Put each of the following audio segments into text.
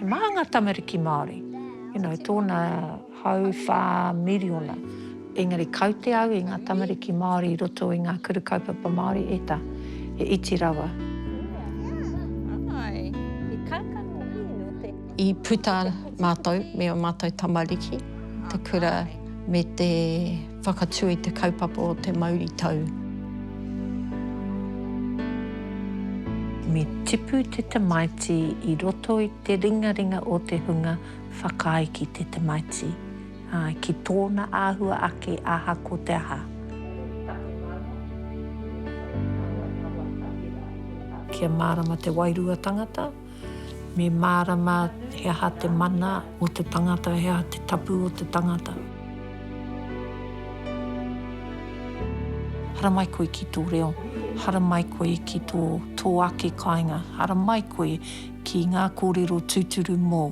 He maha ngā tamariki Māori, you know, tōna hau whā miriona. Engari kaute au i ngā tamariki Māori i roto i ngā kuru kaupapa Māori, e ta, he iti rawa. I puta mātou me ō mātou tamariki te kura me te. Whakatū i te kaupapa o te mauritau. Me tipu te tamaiti i roto i te ringaringa o te hunga whakaae ki te tamaiti, ā, ki tōna āhua ake aha ko te aha. Kia mārama te wairua tangata. Me mārama he aha te mana o te tangata, he aha te tapu o te tangata. Haramai koe ki tō reo, haramai koe ki tō, tō ake kāinga, haramai koe ki ngā kōrero tūturu mōu.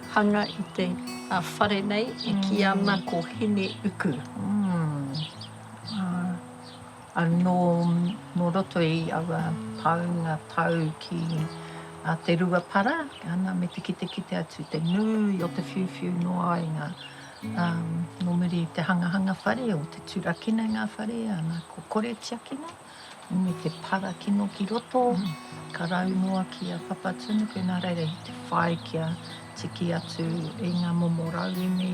Hanga i te whare nei e ki ana ko Hine uku. Anō nō roto i aua paunga tau ki a Te Ruapara, ana me te kitekite atu te nui o te whiuwhiu noa i ngā, nō muri i te hangahanga whare o te turakina i ngā whare, ana ko Kore Tiakina. Me te para kino ki roto, ka rau noa ki a Papatūnuku, nā reira i te whai kia tiki atu i ngā momo rauemi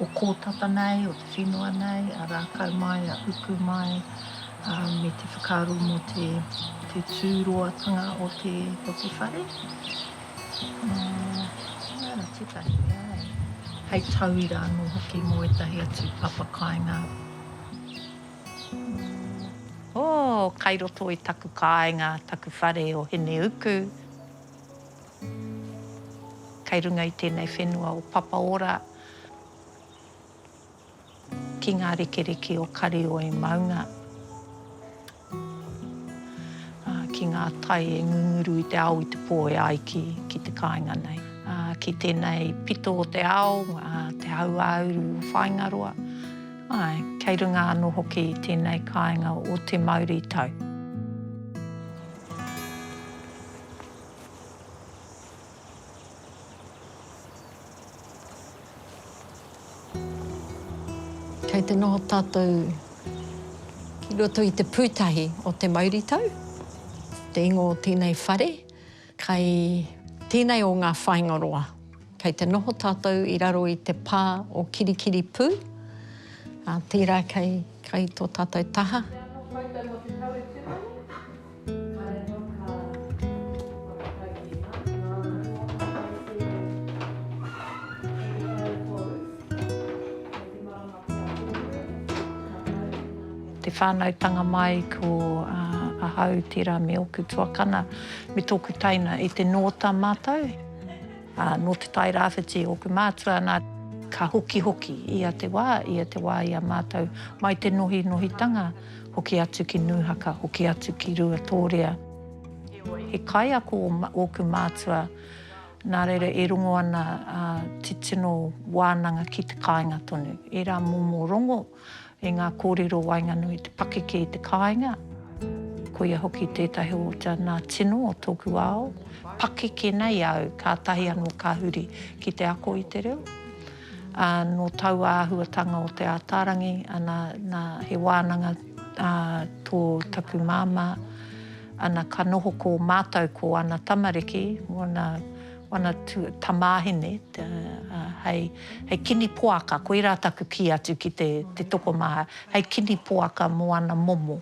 o Kōtata nei, o te whenua nei, a Rākau mai, a Uku mai, ā, me te whakaaro mō te, te tūroatanga o te, o te whare. Ā, nā reira tētahi mea e. Hei tauira anō hoki mō ētahi atu papa kāinga. Oh, kai roto i taku kāinga taku whare o Hineuku. Kai runga i tēnei whenua o Papaora ki ngā rekereke o Karioi maunga. Ah, ki ngā tai e ngunguru i te ao i te pō e ai ki, ki te kāinga nei. Ah, ki tēnei pito o te ao, ah, te hauāuru o Whāingaroa. Ae, kei runga ano hoki i tenei kainga o te mauritau. Kei te noho tatou ki roto i te putahi o te mauritau, te ingo o tenei whare, Kei tēnei o ngā whāinga roa, kei te noho tātou i raro i te pā o Kirikiripū, ā, tērā kei, kei tō tātou taha. Te whānautanga mai ko ahau tērā me ōku tuakana me tōku taina i te nōta mātou. Nō Te Tai Rāwhiti ōku mātua nā, ka hokihoki ia te wā, ia te wā i a mātou mai te nohinohitanga hoki atu ki Nūhaka, hoki atu ki Ruatōrea. He kaiako ōku mātua, nā reira e rongo ana titino wānanga ki te kāinga tonu, ērā momo rongo. I ngā kōrero waenganui te pakeke i te kāinga, koia hoki tētahi o te nā tino o tōku ao, pakeke nei au kātahi anō ka huri ki te ako i te reo. Ā, nō taua āhuatanga o Te Ātaarangi, ana, nā, he wānanga ā tō taku māmā, ana, ka noho ko mātou ko ana tamariki, ngōna, Wana tamahine, hei kini poaka, koirā taku kī atu ki te tokomaha, hei kini poaka mō ana momo.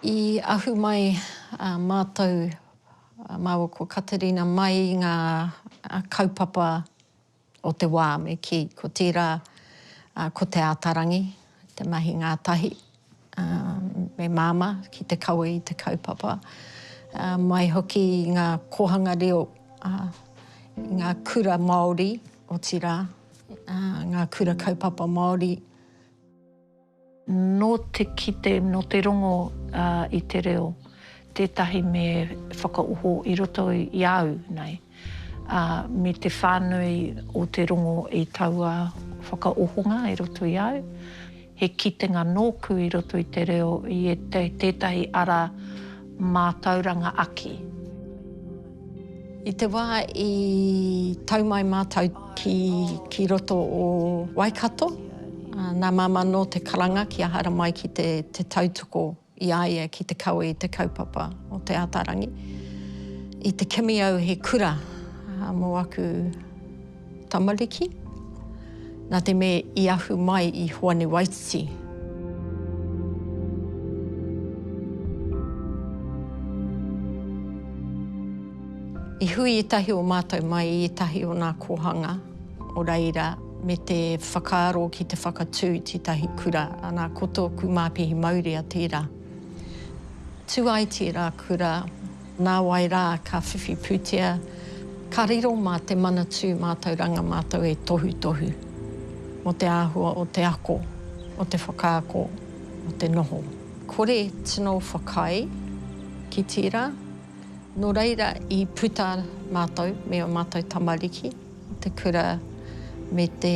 I ahu mai mātou, māua ko Katerina mai i ngā kaupapa. o te wā me kī, ko tērā ko Te Ātarangi te mahi ngātahi me Māmā ki te kawe i te kaupapa, mai hoki i ngā kōhanga reo i ngā kura Māori, otirā, ngā kura kaupapa Māori. Nō te kite, nō te rongo i te reo, tētahi me whakaoho i roto i a au nei, ā, me te whānui o te rongo i taua whakaohonga i roto i a au, he kitenga nōku i roto i te reo i tētahi ara mātauranga aki. I te wā i tau mai mātou ki, ki roto o Waikato, nā Māmā Nō te karanga ki a Haramai ki te, te tautoko i a ia ki te kawe i te kaupapa o Te Ātaarangi. I te kimi au he kura mō aku. Tamariki, nā te mea i ahu mai i Hoani Waititi. I hui ētahi o mātou mai i ētahi o nā kōhanga o reira me te whakaaro ki te whakatū i tētahi kura, anā, ko tōku māpihi mauria tērā. Tū ai tērā kura Nāwai rā ka whiwhi pūtea, ka riro mā te Manatū mātauranga mātou e tohutohu mō te āhua o te ako, o te whakaako, o te noho. Kore tino whakaae ki tērā, nō reira i puta mātou me ō mātou tamariki i te kura me te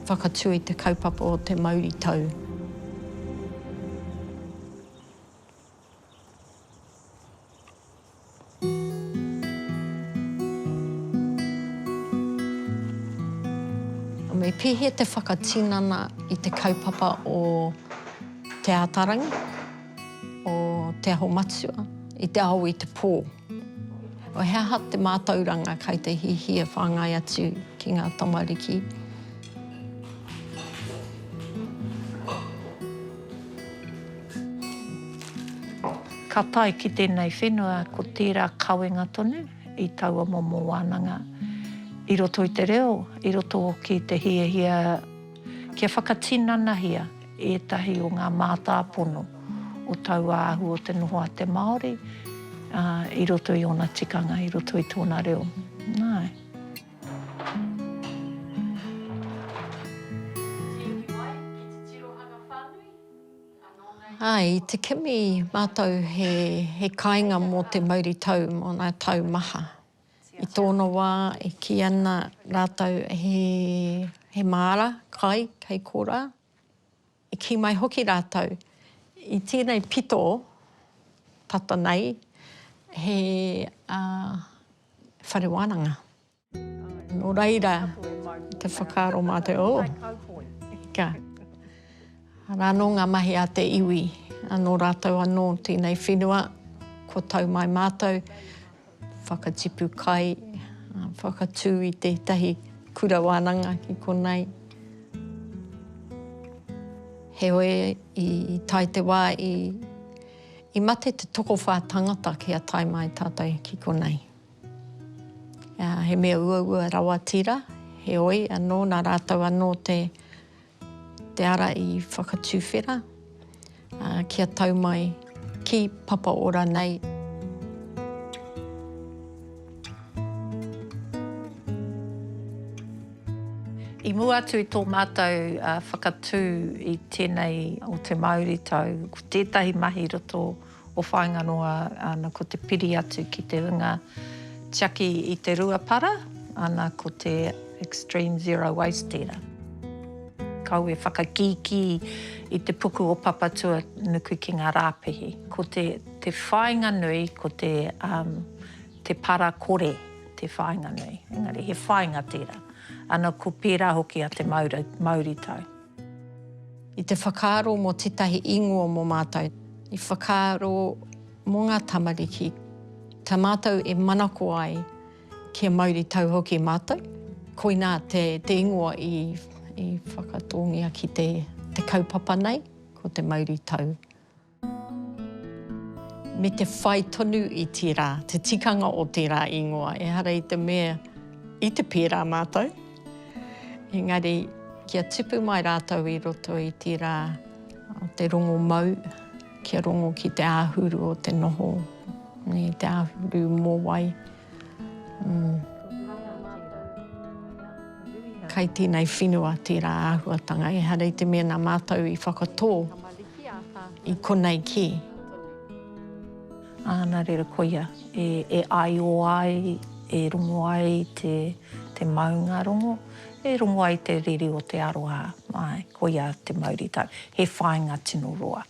whakatū i te kaupapa o te mauritau. Me pēhea te whakatinana i te kaupapa o Te Ātaarangi, o Te Aho Matua i te ao i te pō? He aha te mātauranga kei te hiahia whāngai atu ki ngā tamariki? Ka tae ki tēnei whenua ko tērā kawenga tonu i taua momo wānanga i roto i te reo, i roto hoki i te hiahia. Kia whakatinanahia ētahi o ngā mātāpono o taua ahu o te noho a te Māori i roto i ōna tikanga, i roto i tōna reo. Nāe. Āe, i te kimi mātou he kāinga mō te mauritau, mō ngā tau maha. I tōna wā e kī ana rātou he māra kai kei korā, i kī mai hoki rātou, i tēnei pito tata nei he whare wānanga. Nō reira te whakaaro mā te oh, ika, arā anō ngā mahi a te iwi, anō rātou anō tēnei whenua kua tau mai mātou, Whakatipu kai, whakatū i tētahi kura wānanga ki konei. Heoi, i tae te wā i, i mate te tokowhā tangata ki a tae mai tātou ki konei. Uh, he mea uaua rawa tira, heoi, anō, nā rātou anō te, Te ara i whakatuwhera kia tau mai ki Papa Ora nei. I mua atu i tō mātou whakatū i tēnei o te Māoritau, ko tētahi mahi roto. O whainga noa ana ko te piri atu ki te unga tiaki i te rua para, ana ko te extreme zero waste tera. Kau e whakakiki i te puku o Papatua nuku ki nga rapehi. Ko te whainga nui ko te para kore te whainga nui, engari he whainga tera. Ana ko pera hoki a te mauritau. I te whakaaro mō tētahi ingoa mō mātou. I whakaaro mō ngā tamariki. Tā mātou e manako ai kia mauritau hoki mātou. Koinā te ingoa i whakatōngia ki te kaupapa nei, ko te mauritau. Me te whai tonu i tērā, te tikanga o tērā ingoa. Ehara i te mea, i te pērā mātou. Engari, kia tipu mai rātou i roto i tērā o te rongo mau, kia rongo ki te āhuru o te noho, te āhuru mōwai. Kai tēnei whenua tērā āhuatanga, ehara i te mea nā mātou i whakatō i konei kē. Ā, nā reira koia, e, e āio ai, e rongo ai te, te maunga rongo, e rongo ai te riri o te aroha, āe, koia te mauritau. He whāinga tino roa.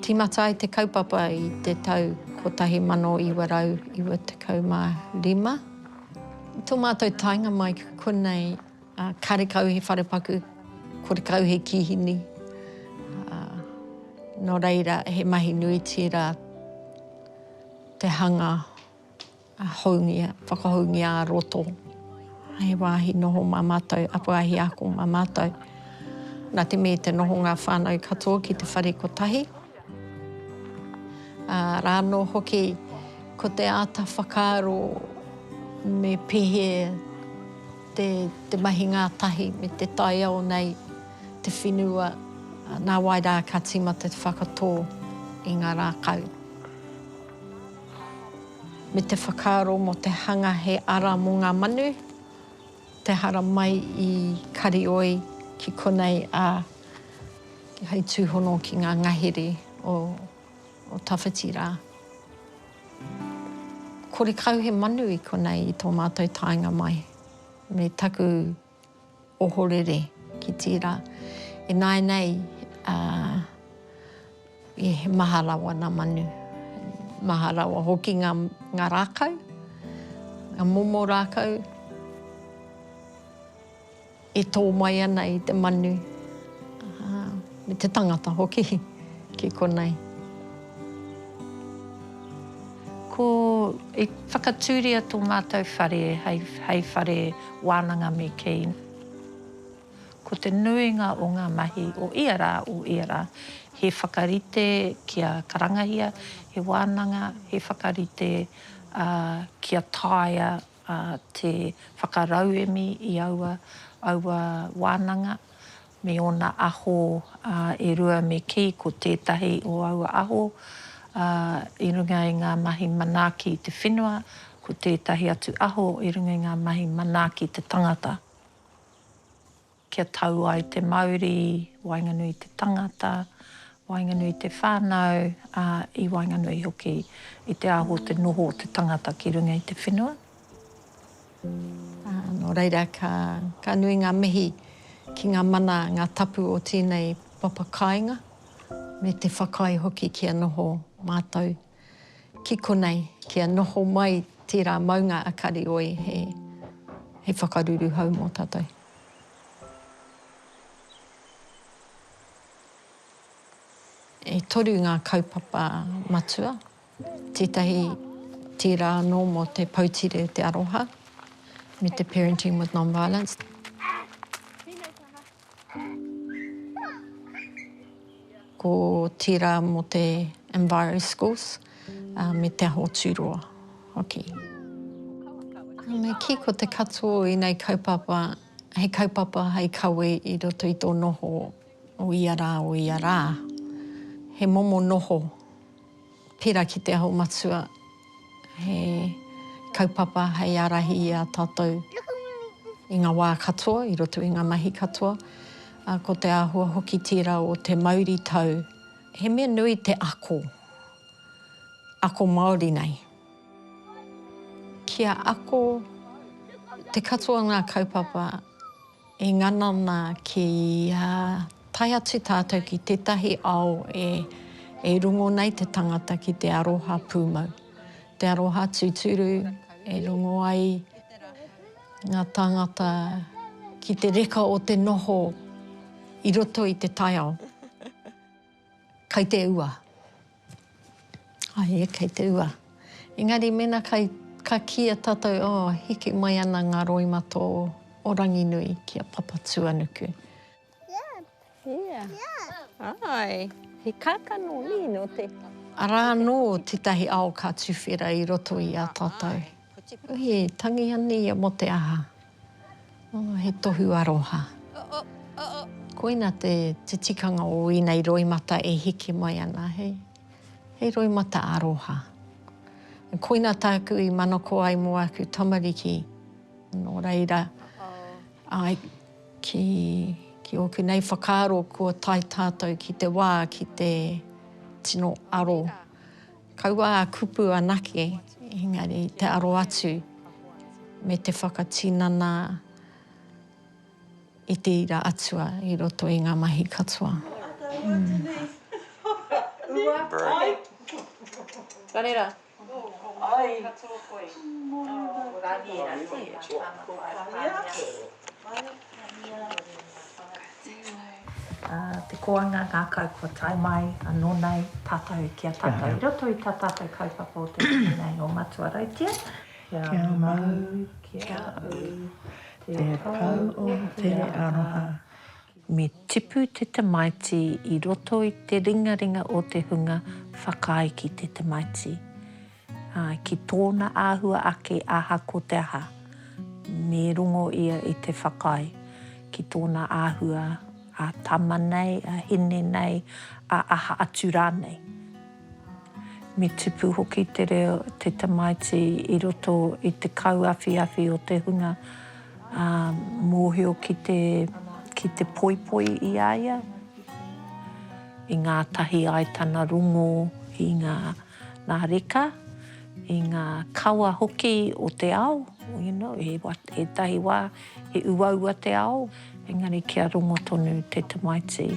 Tīmata ai te kaupapa i te tau 1995. I tō mātou taenga mai ki konei, karekau he wharepaku, korekau he kīhini, nō reira he mahi nui tērā te hanga. Houngia, whakahoungia ā-roto. He wāhi noho mā mātou, wāhi ako mā mātou. Nā te me te noho ngā whānau katoa ki te whare kotahi. Ā, rā anō hoki, ko te āta whakaaro me pēhē te, te mahi ngātahi me te taiao nei, te whenua, nā wai rā ka tīmata te whakatō i ngā rākau. me te whakaaro mō te hanga he ara mō ngā manu, te hara mai i Karioi ki konei, ā, hei tūhono ki ngā ngahere o tawhiti rā. Kore kau he manu i konei i tō mātou taenga mai, me taku. Ohorere ki tērā. Ināinei, he maha rawa ngā manu. Maha rawa hoki ngā rākau, ngā momo rākau e tō mai ana i te manu. Me te tangata hoki ki konei. Ko, i whakatūria tō mātou whare hei, hei whare wānanga me kei. Ko te nuinga o ngā mahi o ia rā, o ia rā, he whakarite kia karangahia he wānanga, he whakarite ā, kia taea ā, te whakarauemi i aua, aua wānanga. me ōna aho e rua me kī, ko tētahi o aua aho i runga i ngā mahi manaaki i te whenua, ko tētahi atu aho i runga i ngā mahi manaaki i te tangata. Kia tau ai te mauri waenganui i te tangata, waenganui i te whānau, ā, i waenganui hoki i te aho te noho o te tangata ki runga i te whenua. Nō reira, ka nui ngā mihi ki ngā mana, ngā tapu o tēnei papa kāinga, me te whakaae hoki kia noho mātou ki konei, kia noho mai tērā maunga a Karioi hei whakaruru hou mō tātou. E toru ngā kaupapa matua Tētahi tērā anō mō te Poutire o te Aroha me te Parenting with Non-Violence. Ko tērā mō te Enviroschools me Te Aho Tūroa hoki. Me kī ko te katoa o ēnei kaupapa he kaupapa hei kawe i roto i tō noho o ia rā, o ia rā. He momo noho Pērā ki Te Aho Matua, he kaupapa hei ārahi i a tātou i ngā wā katoa, i roto i ngā mahi katoa, ā, ko te āhua hoki tērā o te mauritau. He mea nui te ako, ako Māori nei. Kia ako te katoa o ngā kaupapa. E ngana ana kia tae atu tātou ki tētahi ao e rongo nei te tangata ki te aroha pūmau, te aroha tūturu e rongo ai ngā tāngata ki te reka o te noho i roto i te taiao. Kai te ua. Ai, kai te ua. Engari mena kai, ka kia tatou, oh, hiki mai ana nga roima to o Ranginui ki a Papatuanuku. Ia. Ia. Ai, he kakano ni no te. Ara ano tetahi ao ka tuwhera i roto i a tatou. Uhi, tangi ani ia mo te aha. Oh, he tohu aroha. Oh, oh, oh, oh. Koina te, te tikanga o ēnei roimata e heke mai ana, hei. Hei roimata aroha. Koina tāku i manako ai mō āku tamariki. Nō reira, ai, ki, ki ōku nei whakaaro, kua tae tātou ki te wā, ki te tino aro. Kaua a kupu anake, engari te aro atu me te whakatinana i te ira atua i roto i nga mahi katoa. Te koanga ngakau kua tae mai ano nei tatou ki a tatou i roto i ta tatou kaupapa o te rangi nei o Matua Rautia. Kia mau ki a au te pau o te aroha. Me tipu te tamaiti i roto i te ringaringa o te hunga whakaae ki te tamaiti. Ā, ki tōna āhua ake aha ko te aha, me rongo ia i te whakaae, ki tōna āhua a tama nei, a hine nei, a aha atu rānei. Me tupu hoki te reo, te tamaiti i roto i te kauawhiawhi o te hunga, ā, mōhio ki te, ki te poipoi i a ia, i ngātahi ai tana rongo i ngā. ngā reka, i ngā kawa hoki o te ao, you know, he wa, ētahi wā he uaua te ao, engari kia rongo tonu te tamaiti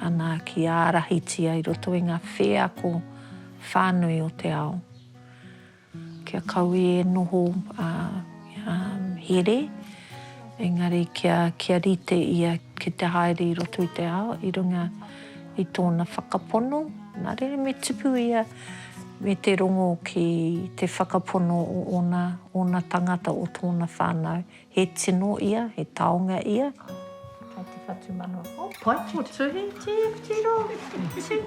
ana ki ārahitia i roto i ngā wheako whānui o te ao. Kia kaua e noho, ā, ā, here, Engari kia, kia rite ia ki te haere i roto i te ao i runga i tōna whakapono, nā reira me tupu ia me te rongo ki te whakapono o ōna, ōna tangata, o tōna whānau. He tino ia, he taonga ia. Hai te whatu mano. Oh, pai ko tuhi, tiro,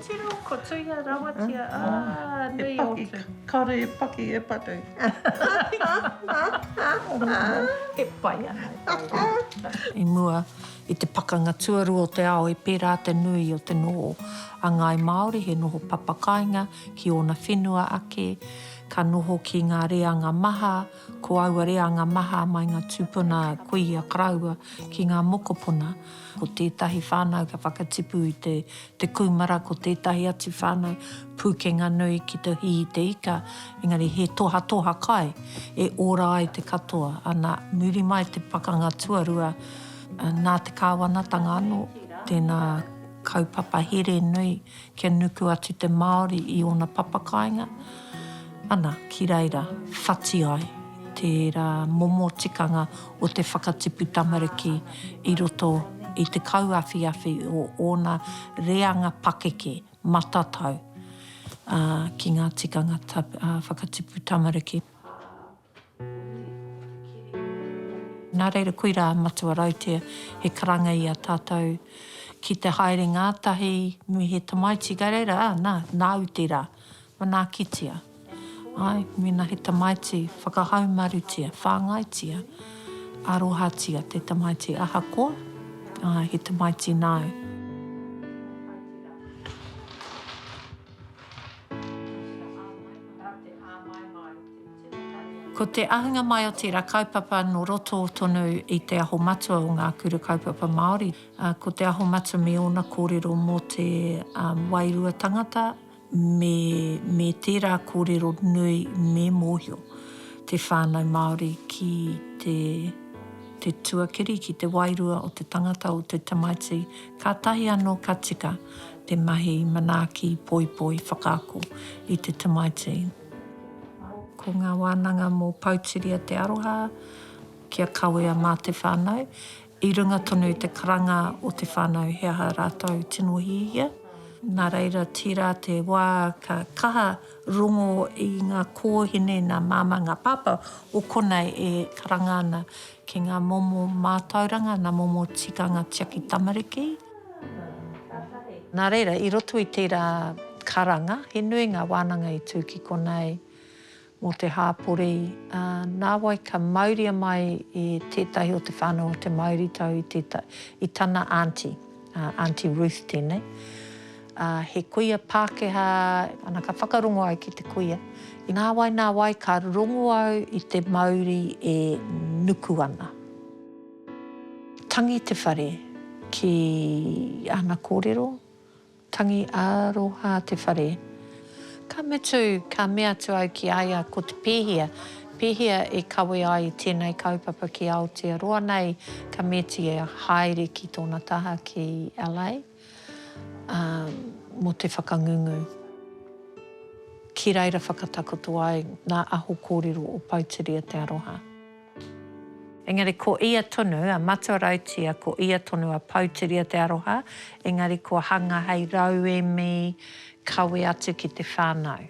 tiro, ko tuia rawatia, ah, nui o tu. Kare e paki, e patu. E pai ana, e pai ana. I mua i te pakanga tuarua o te ao e pērā te nui o te noho a ngāi Māori he noho papakāinga ki ōna whenua ake, ka noho ki ngā reanga maha, Ko aua reanga maha mai ngā tūpuna kuia karaua ki ngā mokopuna. Ko tētahi whānau ka whakatipu i te te kūmara, ko tētahi atu whānau pūkenga nui ki te hī i te ika, engari he tohatoha kai e ora ai te katoa. Ana, muri mai te pakanga tuarua, nā te kāwanatanga anō tēnā kaupapa here nui Kia nuku atu te Māori i ōna papakāinga, ana, ki reira, whati ai tērā momo tikanga o te whakatipu tamariki i roto i te kauawhiawhi o ōna reanga pakeke, matatau, ā, ki ngā tikanga whakatipu tamariki. Nā reira, koirā a Matua Rautea, he karanga i a tātou ki te haere ngātahi me he tamaiti, kei reira, ā, nā, nāu tērā, manaakitia. Āe, mēnā he tamaiti, whakahaumarutia, whāngaitia, arohatia te tamaiti ahakoa, āe, he tamaiti nāu. Ko te ahunga mai o tērā kaupapa nō roto tonu i Te Aho Matua o Ngā Kura Kaupapa Māori, ko Te Aho Matua me ōna kōrero mō te wairua tangata me me tērā kōrero nui me mōhio te whānau Māori ki te te tuakiri, ki te wairua o te tangata, o te tamaiti, kātahi anō ka tika te mahi manaaki poipoi whakaako i te tamaiti. Ko ngā wānanga mō Pouturia te aroha kia kawea mā te whānau, i runga tonu i te karanga o te whānau he aha rātou tino hiahia. Nā reira, tērā te wā ka kaha rongo i ngā kōhine, ngā māmā, ngā pāpā o konei e karanga ana ki ngā momo mātauranga, ngā momo tikanga tiaki tamariki. Nā reira, i roto i tērā karanga, he nui ngā wānanga i tū ki konei mō te hāpori, ā, nāwai ka mauria mai e tētahi o te whānau o te mauritau i te, i tana aunty, ā, Aunty Ruth tēnei, ā, he kuia Pākehā, ana ka whakarongo au ki te kuia, i nāwai, nāwai ka rongo au i te mauri e nuku ana. Tangi te whare ki ana kōrero, tangi aroha te whare. Ka mutu, ka mea atu au ki a ia, ko te pēhea, pēhea e kawe ai tēnei kaupapa ki Aotearoa nei, ka metia haere ki tōna taha ki LA, ā, mō te whakangungu. Ki reira whakatakoto ai ngā aho kōrero o Pouteria Te Aroha. Engari ko ia tonu a Matua Rautia, ko ia tonu a Pouteria Te Aroha, engari kua hanga hei rauemi kawe atu ki te whanau.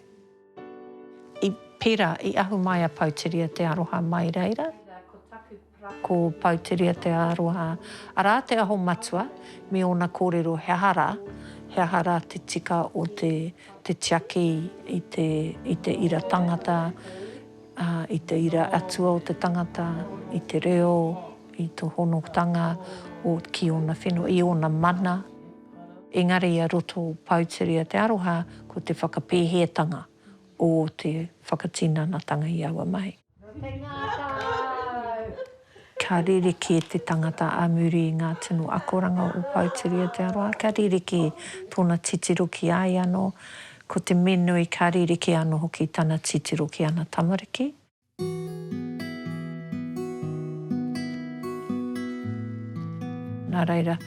I pera, i ahu mai a Pouteria Te Aroha mai reira. Ko taku para ko Pouteria Te Aroha, ara te aho matua, me ona korero he aha ra, he aha ra te tika o te tiaki i te ira tangata, Ā, i te ira atua o te tangata, i te reo, i to honotanga o, ki ona whenua, i ona mana. Engari i a roto Poutere a Te Aroha ko te whakapēheatanga o te whakatinanatanga i aua mahi. Rotengākau! Kia rerekē te tangata ā muri i ngā tino akoranga o Poutiri Aotearoa, kia rerekē tōna titiro ki a ia anō, ko te me nui ka rerekē anō hoki tana titiro ki ana tamariki. Nā reira,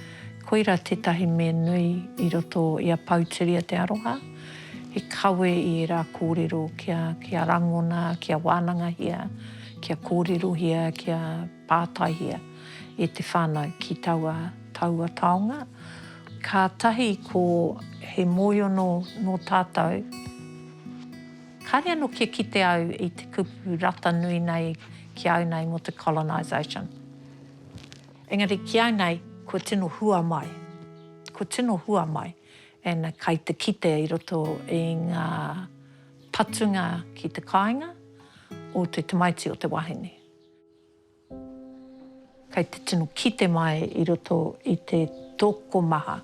koirā tētahi me nui i roto i a Poutiri Aotearoa, he kawe i ērā kōrero kia rangona, kia wānangahia, kia kōrerohia, kia pātaihia e te whānau ki taua, taua taonga. Kātahi ko he mōiono nō tātou, kāre anō kia kite au i te kupu rata nui nei ki au nei mō te colonisation. Engari ki au nei, kua tino hua mai, kua tino hua mai, and kai te kite i roto i ngā. Patunga ki te kāinga o te tamaiti o te wahine. Kei te tino kite mai i roto i te tokomaha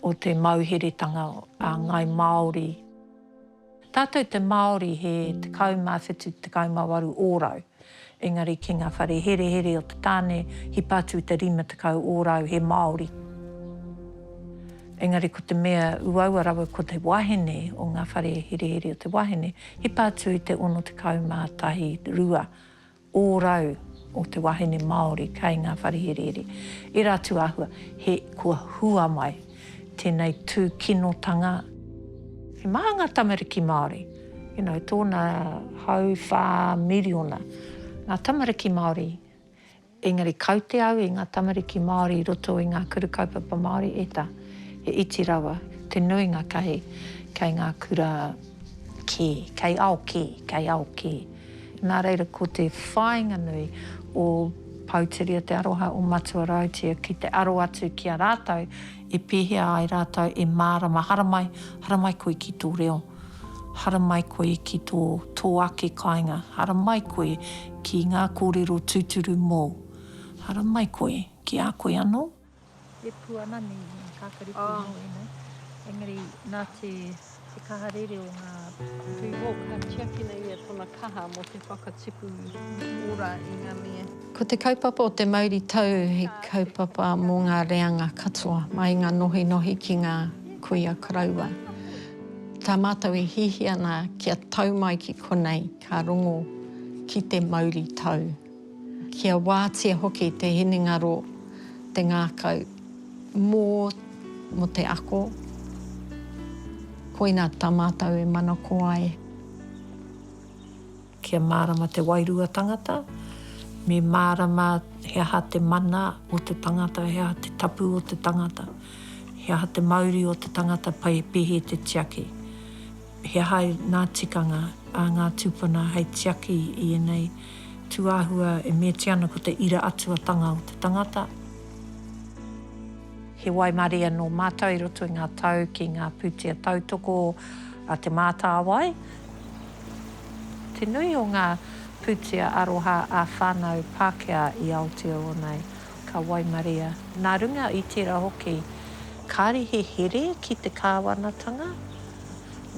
o te mauheretanga a Ngāi Māori. Tātou te Māori he 17, 18 ōrau. Engari ki nga whare herehere o te tane, hipa atu te rima tekau ōrau he Māori. Engari ko te mea uaua rawa ko te wahine o nga whare herehere o te wahine, hipa atu i te ono tekau ma tahi rua ōrau o te wahine Māori kei nga whare herehere. Era atu ahua, he kua hua mai. tēnei tūkinotanga. He maha ngā tamariki Māori, you know, tōna hau whā miriona ngā tamariki Māori, engari kaute au i ngā tamariki Māori i roto i ngā kura kaupapa Māori e ta, he iti rawa te nuinga kai, kai ngā kura kē, kai ao kē, kai ao kē. Nā reira ko te whāinga nui o Pouteria te aroha o Matua Rautia ki te aro atu ki a rātou e pēhea ai rātou e mārama haramai, haramai koe ki tō reo, haramai koe ki tō, tō ake kāinga, haramai koe ki ngā kōrero tūturu mōu, haramai koe ki a koe anō. E pū ana nei he kakari pū nō ēnei. Engari nā te kaha rere o ngā pū hou ka tiakina ia tōna kaha mō te whakatipu ora i ngā mea. Ko te kaupapa o te mauri tau he kaupapa mō ngā reanga katoa, mai ngā nohinohi ki ngā kuia koroua. Tā mātou e hihi ana kia tau mai ki konei ka rongo ki te mauri tau. Kia wātea hoki te hinengaro, te ngākau, mō, mō te ako, koina tā mātou e manako ai. Kia mārama te wairua tangata, me mārama he aha te mana o te tangata, he aha te tapu o te tangata, he aha te mauri o te tangata, pai pēhi te tiaki. He aha ngā tikanga a ngā tūpuna hei tiaki i ēnei tūāhua e meatia ana ko te ira atuatanga o te tangata? He waimarie nō mātou i roto i ngā tau ki ngā pūtea tautoko a Te Mātāwai. Te nui o ngā pūtea aroha ā-whānau Pākehā i Aotearoa nei, ka waimaria. Nā runga i tērā hoki, kāre he here ki te kāwanatanga.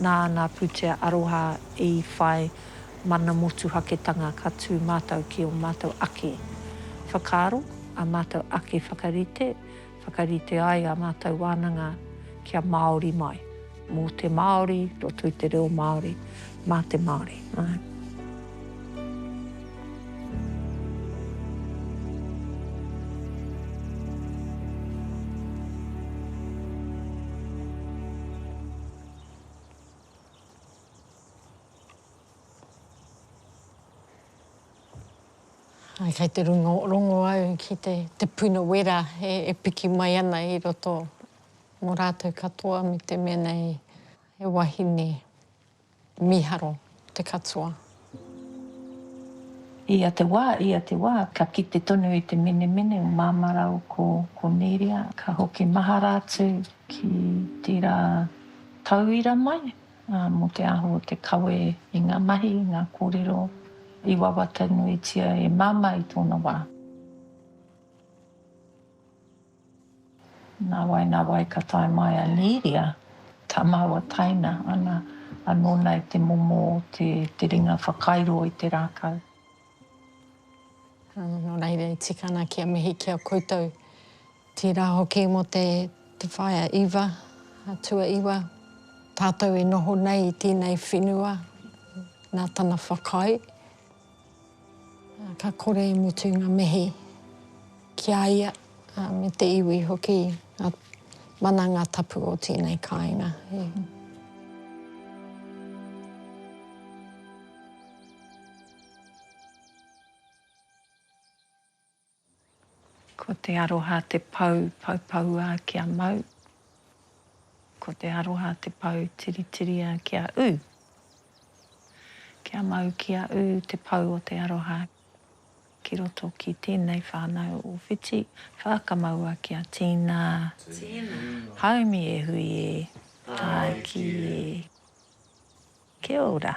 nā ngā pūtea aroha i whai mana motuhaketanga ka tū mātou ki ō mātou ake whakaaro, ā mātou ake whakarite, whakarite ai ā mātou wānanga kia Māori mai, mō te Māori, roto i te reo Māori. Mā te Māori, āe. Āe, kei te rongorongo au ki te, te puna wera e, e piki mai ana i roto mō rātou katoa me te mea nei he wahine. Miharo te katoa. Ia te wā, ia te wā, ka kite tonu i te menemene o Māmara o ko Koneria, ka hoki mahara atu ki tērā tauira mai, ā, mō te aho o te kawe i ngā mahi, i ngā kōrero i wawata nuitia e Māmā i tōna wā. Nāwai, nāwai ka tae mai a Nīria, tā māua taina ana anō nei te momo o te te ringa whakairo i te rākau. Nō reira e tika ana kia mihi ki a koutou, tērā hoki mō te te whaea iwa, a Tuaiwa, tātou e noho nei i tēnei whenua nā tana whakaae. Ka kore i mutu ngā mihi ki a ia me te iwi hoki, ngā wānanga tapu o tēnei kāinga. Ko te aroha te pou poupoua kia mau, ko te aroha te pou tiritiria kia ū. Kia mau kia ū te pou o te aroha ki roto ki tēnei whānau o Whiti, whākamaua kia tīna, haumi e hui e, tāiki e. Kia ora.